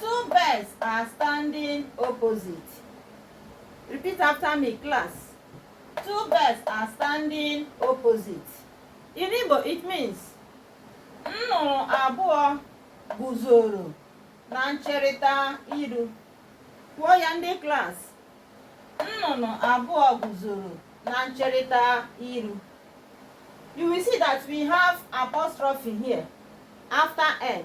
Two birds are standing opposite. Repeat after me, class. Two birds are standing opposite. In Igbo, it means nnụnụ abụọ guzoro na ncherịta iru. Kwuo ya ndị class. Nnụnụ abụọ guzoro na ncherịta iru. You will see that we have apostrophe here after n.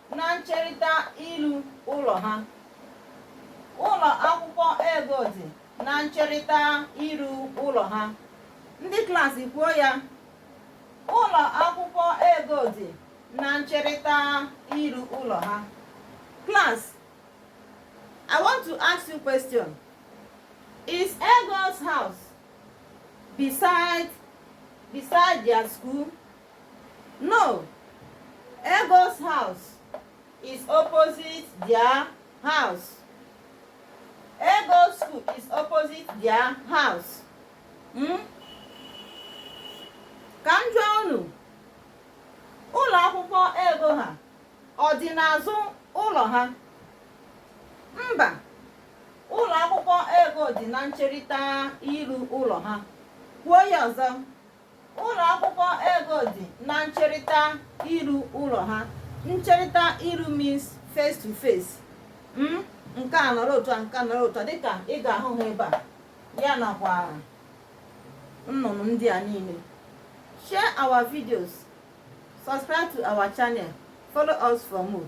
na ncherịta iru ụlọ ha ụlọ akwụkwọ Ego dị na ncherịta iru ụlọ ha ndị klaasị kwuo ya ụlọ akwụkwọ Ego dị na ncherịta iru ụlọ ha class I want to ask you question is Ego's house beside their school No. Ego's house is opposite their house. Ego's school is opposite their house. Hmm? Ka m jụọ unu, ụlọ akwụkwọ Ego ha ọ dị n'azụ ụlọ ha? Mba, ụlọ akwụkwọ Ego dị na ncherịta iru ụlọ ha. Kwuo ya ọzọ. Ụlọ akwụkwọ Ego dị na ncherịta iru ụlọ ha. Ncherịta iru means face to face. Mm? nke a nọrọ otu a nke a nọrọ otu a dịka ị ga-ahụ ha ebe a ya nakwa nnụnụ ndị a niile share our videos subscribe to our channel follow us for more